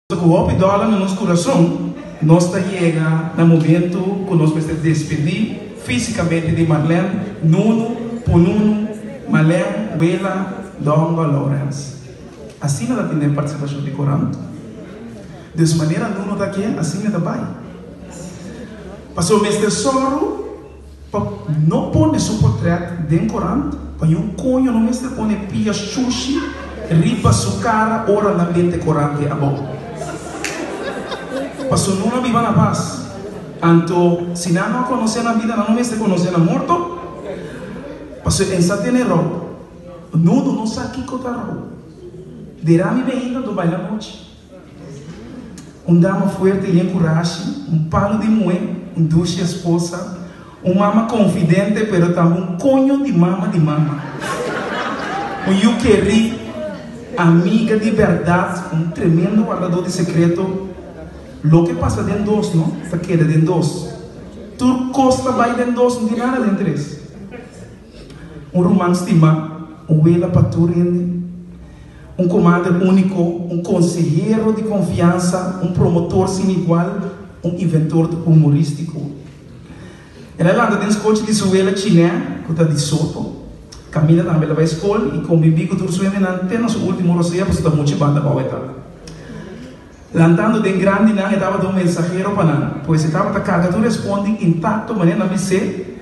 Cu hopi dolor na nos curason, nos ta yega na momento cu nos mester despedi fisicamente di Marlène, Nunu, Pununu, Malène, Wela, Dongo, Lawrence. Asina ta tin den participacion di Coran. Dus manera Nunu ta ke, asina e ta bai. Pasobra mester sòru. Pa no pone su portret den corant pa yon coño no mester pone pia shushi riba su cara ora nan bente corante abou paso no a biba na pas anto si nan no a conoce nan bida nan no mester conoce nan morto paso en sa tene rou no no no sa kico ta rou derami be ainda do baila nochi. Un dama fuerte i den kurashi, un palu di muhé, un dushi esposa, un mama konfidente pero tambe un koño di mama di mama, un yu kerí, amiga di bèrdat, un tremendo wardadó di sekreto. Loke pasa den dos no ta keda den dos. Tur kos ta bai den dos, no tin nada den tres. Un ruman stimá, un wela pa tur hende, un komadre úniko, un konsehero di konfiansa, un promotor sin igual, un inventor humorístiko. El a lanta den skochi di su wela Chiné, ku ta di Soto. Kaminda tambe el a bai skol i kombibí ku tur su hendenan te na su último rosea pasobra ta muchu banda bou e ta. Lantando den grandinan e tabata un mensahero pa nan, pues e tabata karga tur e spon di intakto manera nan bis'é,